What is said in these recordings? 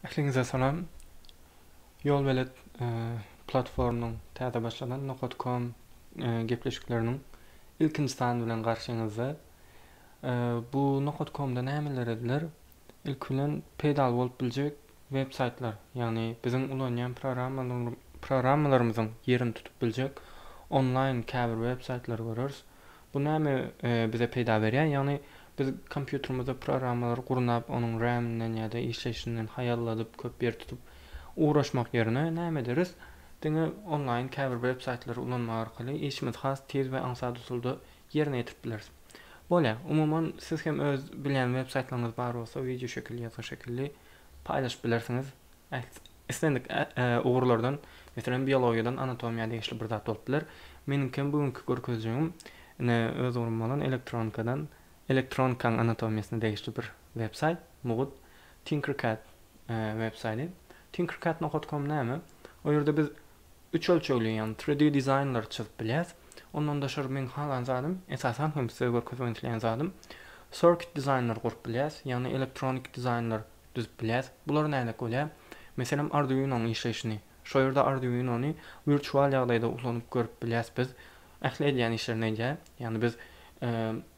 Ähliňize salam. Ýolbelet platformynyň täze başlanan Nokat.com gepleşikleriniň ilkinji sany bilen garşyňyzda. Bu Nokat.com-da nämeler ediler? Ilki bilen peýdaly bolup biljek web saýtlar, ýagny biziň ulanýan programmalarymyzyň ýerini tutup biljek onlaýn käbir web saýtlary göreris. Bu näme bize peýda berýär? Ýagny biz kompýuterimizde programmalary gurnap, onuň RAM-inden ýa-da işleýşinden haýalladyp, köp ýer tutup ugraşmak ýerine näme ederis? Diňe onlaýn käbir websaýtlary ulanmak arkaly işimizi has tiz we aňsat usulda ýerine ýetirip bileris. Bolýa, umuman siz hem öz bilýän websaýtlaryňyz bar bolsa wideoşekil ýazga şekilli paýlaşyp bilersiňiz. Islendik ugurlardan, meselem, biologiýadan anatomiýa degişli bir zat bolup biler. Meniňkem bu günki görkezjegim ine öz ugrum bolan elektronikadan, elektronikaň anatomiýasyna degişli bir websaýt, mugut, Tinkercad websaýdy. Tinkercad nokat kom näme? O ýerde biz üç ölçegli, ýagny tri di dizaýnlary çyzyp bilýäs. Ondan daşary meň halan zadym, esasan hem size görkezmek isleýän zadym, circuit dizaýnlary gurup bilýäs, ýagny elektronik dizaýnlar. düzüp bilýäs. Bulary nädek bolýar? Meselem, Arduino-nyň işleýşini. Şo ýerde Arduino-ny wirtual ýagdaýda ulanyp görüp bilýäs biz. Ähli edýän işlerini edýär. Ýagny biz,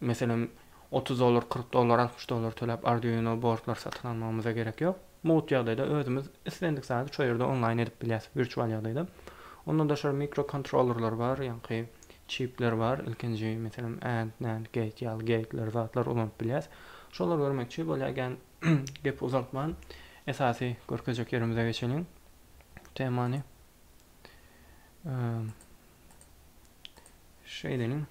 meselem, otuz dollar, kyrk dollar, altmyş dollar töläp Arduino bordlary satyn almagymyza gerek ýok. Mugt ýagdaýda özümiz islendik zady şo ýerde onlaýn edip bilýäs, wirtual ýagdaýda. Ondan daşary mikrokontrollerler bar, ýaňky çipler bar. Ilkinji, meselem, and, nand, gate ýaly geýtler, zatlar ulanyp bilýäs. Şolar görmekçi bolýar. gepi uzaltman, esasy görkezjek ýerimize geçeliň. Temany şeýle edeliň.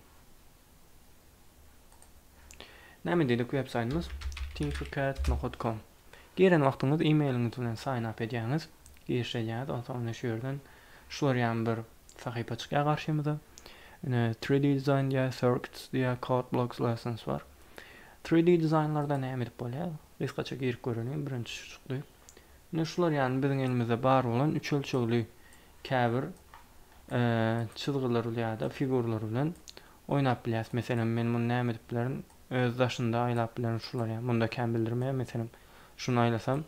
Näme diýdik web saýtymyz? tinkercad.com. Giren wagtyňyz e-mailiňiz bilen sign up edýäňiz, giriş edýäňiz, onsoň indi şu ýerden şular ýaly bir sahypa çykýar garşymyza. Ine 3D design diýýär, circuits diýýär, code blocks lessons bar. 3D dizaýnlarda näme edip bolýar? Gysgaça girip göreliň, birinji şu çykdy. Ine şular ýagny biziň elimizde bar bolan üç ölçegli käbir çyzgylar ýa-da figurlar bilen oýnap bilýäs. Meselem men muny näme edip bilerin? Öz daşynda aýlap bilerin şular ýaly. Munda kän bildirmeýär meselem. Şuny aýlasam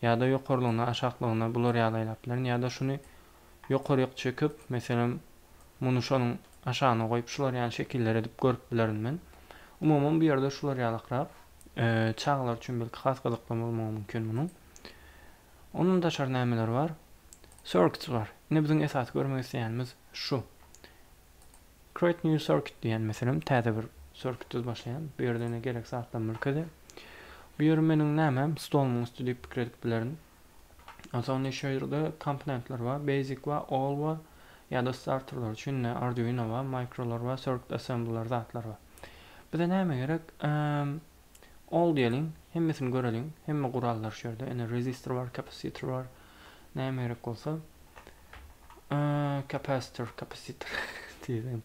ýa-da ýokarlygyna, aşaklygyna bular ýaly aýlap bilerin ýa-da şuny ýokaryk çekip, meselem, muny şonuň aşagyna goýup, şular ýaly şekiller edip görüp bilerin men. Umuman, bu ýerde şular ýalykrak. Çagalar üçin belki has gyzykly bolmagy mümkin munuň. Ondan daşary nämeler bar? Circuits bar. Ine biziň esasy görmek isleýänimiz şu. Create new circuit diýen meselem täze bir circuit düz başlaýan. Bu ýerde ine gerek zatlar merkezi. Bu ýeri meniň nämem stolumyň üsti diýip pikir edip bilerin. Onsoň indi şu ýerde komponentler bar, basic bar, all bar, ýa-da starterler üçin indi Arduino bar, microlar bar, circuit assemblylar zatlar bar. Bize näme gerek? All diýeliň, hemmesini göreliň. Hemme gurallar şu ýerde. Indi resistor bar, kapasitor bar. Näme gerek bolsa? Kapasitor, kapasitor diýelim.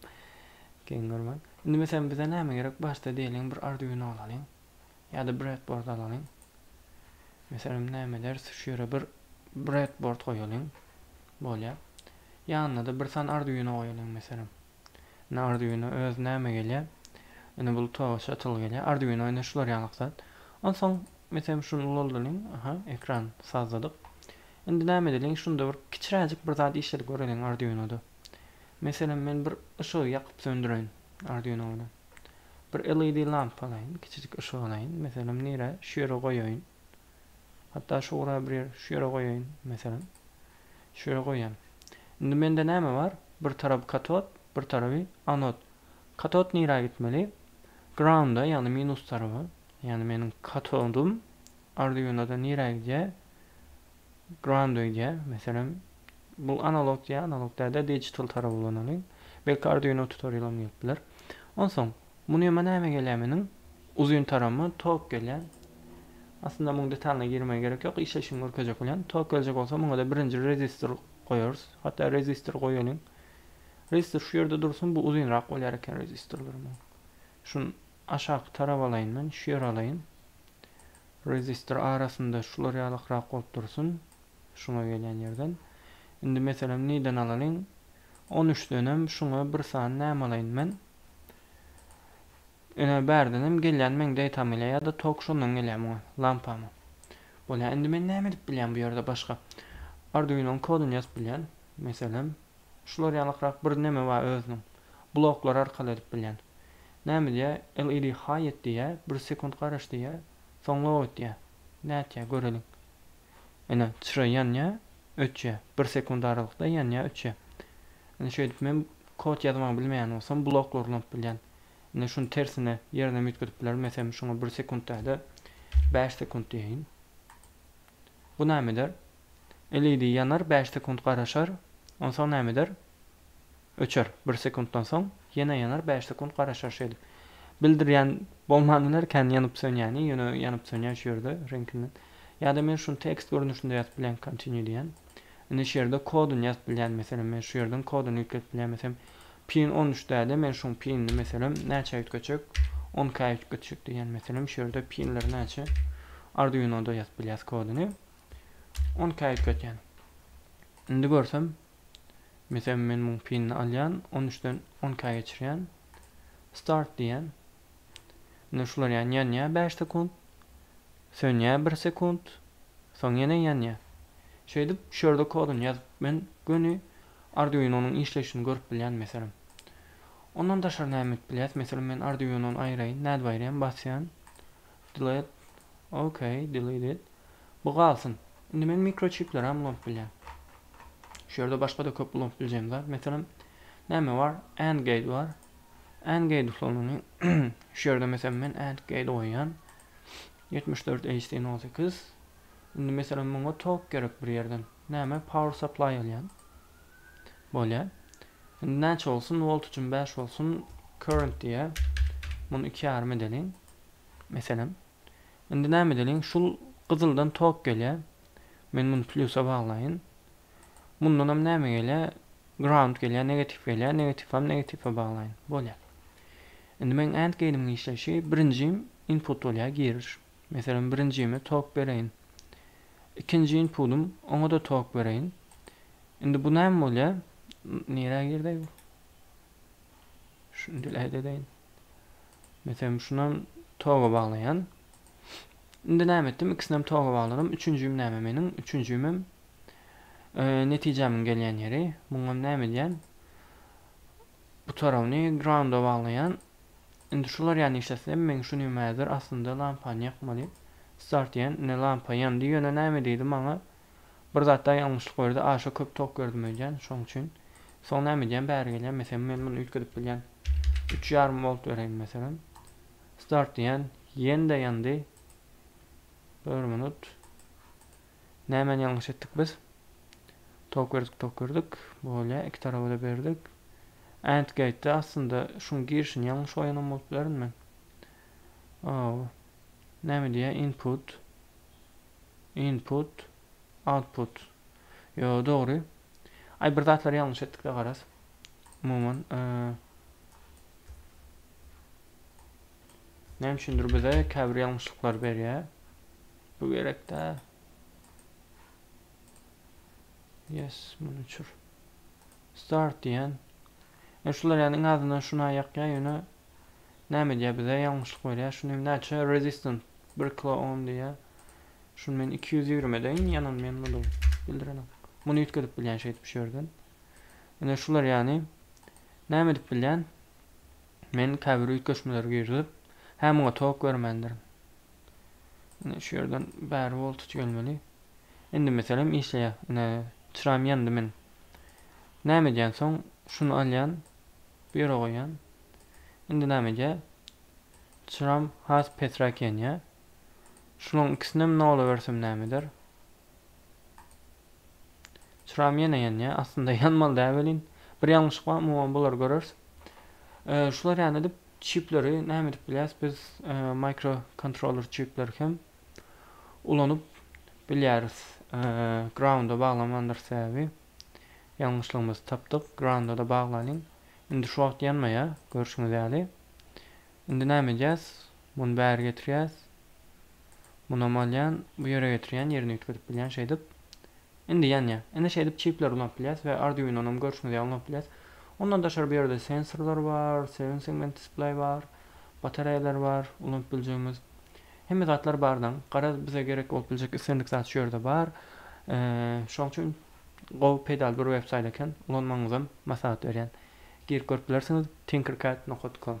Geň görmäň. Indi meselem bize näme gerek? Başda diýeliň bir Arduino alalyň. Ýa-da breadboard alalyň. Meselem, näme ederis? Şu ýere bir breadboard goýalyň. Bolýar. Ýanyna-da bir sany Arduino goýalyň meselem. Indi Arduino öz näme gelýär? Indi bul toga çatyl gelýär. Arduino indi şular ýalak zat. Onsoň meselem şuny ulaldylyň. Aha, ekran sazladyk. Indi näme edeliň? Şunda bir kiçiräjik bir zat işledip göreliň Arduinoda. Meselem, men bir yşygy ýakyp söndüreýin Arduino bilen. Bir LED lampa alaýyn, kiçijik yşyk alaýyn, meselem, nirä, şu ýere goýaýyn. Hatda şu ura bir ýer, şu ýere goýaýyn, meselem. Şu ýere goýýan. Indi mende näme bar? Bir tarapy katod, bir taraby anod. Katod nirä gitmeli? Grounda, ýagny minus taraba. Ýagny meniň katodum Arduinoda nirä gidýär? Grounda gidýär. Meselem, Bul analog ýa analog däl-de digital tarap ulanaly. Belki Arduino tutorialam gelip biler. Onsoň muny ýama näme gelýär meniň uzyn tarama tok gelýär. Aslynda muň detalyna girmä gerek ýok işleşini görkezjek bolýan. Tok geljek bolsa muňada birinji rezistor goýarys. Hatda rezistor goýalyň. Rezistor şu ýerde dursun bu uzynrak bolýar eken rezistorlar muň. Şun aşaky tarap alaýyn men şu ýere alaýyn. Rezistor arasynda şular ýalykrak bolup dursun. Şuňa gelýän ýerden, indi meselem niden alalyň, on üçdenem şuňa bir sany näme alaýyn men? Ine, bärdenem gelýän meň data mile ýa-da tok şondan gelýär muňa, lampama. Bolýar, indi men näme edip bilýän bu ýerde başga? Arduino-nyň koduny ýazyp bilýän, meselem, şular ýalykrak bir neme bar özüniň, bloklar arkaly edip bilýän. Näme diýýär, LED haý et diýýär, bir sekunt garaş diýýär, soň log et diýýär. Nätýär, göreliň. Ine, çyra ýanýar, öçýär. Bir sekunt aralykda ýanýar, öçýär. Ine, şeýdip men kod ýazmagy bilmeýän bolsam, bloklary ulanyp bilýän. Ine, şuny tersine ýerine hem üýtgedip bilerin. Meselem, şuňa bir sekunt däl-de, bäş sekunt diýeýin. Bu näme eder? LED ýanar, bäş sekunt garaşar. Onsoň näme eder? Öçer, bir sekuntdan soň ýene ýanar, bäş sekunt garaşar şeýdip. Bildirýän bolman biler kän ýanyp-sönýäni, ýöne ýanyp-sönýär şu ýerde reňkinden. Ýa-da men şuny tekst görnüşinde ýazyp bilýän continue diýýän. Indi şu ýerde kodyny ýazyp bilýän meselem men şu ýerden kodyny ýükledip bilýän meselem pin on üç däde men şuň pinini meselem näçä üýtgetjek on k üýtgetjek diýýän meselem şu ýerde pinleri näçe arduinoda ýazyp bilýäs kodyny on k üýtgetýän. Indi görsem Meselem men muň pinini alýan on üçden on ka geçirýän start diýýän. Indi şular ýan ýanýa bäş sekunt. Sönýä bir sekunt. Soň ýene ýanýa. Şeýdip şu ýerde kodyny ýazyp men göni arduinonyň işleýşini görüp bilýän meselem. Ondan daşary näme edip bilýäs meselem men arduinony aýraýyn nädip aýraýan basýan. Delete Ok delete it Bu galsyn. Indi men mikroçipleri hem ulanyp bilýän. Şu ýerde başga-da köp ulanyp biljegim zat. Meselem, näme bar? And gate bar. And gate usulyny şu ýerde meselem men and gate goýýan. 74 HT08. Indi meselem muňa tok gerek bir ýerden. Näme? Power supply alýan. Bolýa. Indi näçe bolsun? Volt üçin bäş bolsun. Current diýe. Muny iki ýarym edeliň. Meselem. Indi näme edeliň? Şul gyzyldan tok gelýä. Men muny plýusa baglaýyn. Mundan hem näme gelýä? Ground gelýä, negatif gelýä. Negatif hem negatife baglaýyn. Bolýa. Indi meň and geýdimiň işleýşi birinji input bolýa, giriş. Meselem, birinjime tok bereýin. Ikinji inpudym, oňa-da tok bereýin. Indi bu näme bolýar? Nirä girdi bu? Şuny dileýt edeýin. Meselem, şunam toga baglaýan. Indi näme etdim? Ikisinem toga bagladym. Üçünjim näme meniň? Üçünjimem netijämiň gelýän ýeri. Muňam näme edýän? Bu tarabyny grounda baglaýan. Indi şular ýan işletsem men şu nimädir aslynda lampany ýakmaly start diýen ine lampa ýandy ýöne näme diýdi maňa bir zatda ýalňyşlyk berdi aşa köp tok berdim öýdýän şoň üçin soň näme edýän bäri gelýän mesem men muny üýtgedip bilýän üç ýarym volt bereýin meselem start diýän ýende ýandy bir minut Nämeni ýalňyş etdik biz? Tok berdik, tok berdik. Bolýa, iki taraba-da berdik. And gate-de aslynda şuň girişini ýalňyş goýanam bolup bilerin men. Ow. Näme diýýär? Input. Input. Output. Ýo, dogry. Aý, bir zatlary ýalňyş etdik-de garaz. Umuman, näme üçindir bize käbir ýalňyşlyklary berýär. Bu gerek däl. Yes, muny uçur. Start diýen. E şular ýani iň azyndan şuna ýakýa ýöne näme diýä bize ýalňyşlyk berýä. Şuny hem näçe resistant 1 kilo ohm diýä. Şuny men 220 edeýin ýanan men muny bildirenem. Muny üýtgedip bilýän şeýdip şu ýerden. Ine şular ýani näme edip bilýän? Men käbir üýtgeşmeleri girizip, hä muňa tok bermändirin. Indi şu ýerden bäri woltut gelmeli. Indi meselem işleýär. Ine çyram ýandy men. Näme edýän soň şuny alýan. Bu ýere goýýan. Indi näme edýär? Çyram has pesräk ýanýar. Şularyň ikisinem nola bersem näme eder? Çyram ýene ýanýa. Aslynda ýanmaly däl welin. Bir ýalňyşlyk bar, umuman bulary göreris. E, şular ýany edip çipleri näme edip bilýäs? Biz e, mikro kontroller çipleri hem ulanyp bilýäris. E, grounda baglamandyr sebäbi ýalňyşlygymyzy tapdyk. Grounda da baglalyň. Indi şu wagt ýanmaýar, görşüňiz ýaly. Indi näme edýäs? Muny bäri getirýäs. Munam alýan, bu ýere getirýän, ýerini üýtgedip bilýän şeýdip. Indi ýanýa. Indi şeýdip çipleri ulanyp bilýäs we Arduinonam görşüňiz ýaly ulanyp bilýäs. Ondan daşary bu ýerde sensorlar bar, seven segment display bar, batareýalar bar ulanyp biljegimiz. Hemme zatlar bar daň. Garaz bize gerek bolup biljek islendik zat şu ýerde bar. Şoň üçin gowy peýdaly bir web saýt eken ulanmagyňyzam maslahat berýän girip görüp bilersiňiz tinkercad nokat com.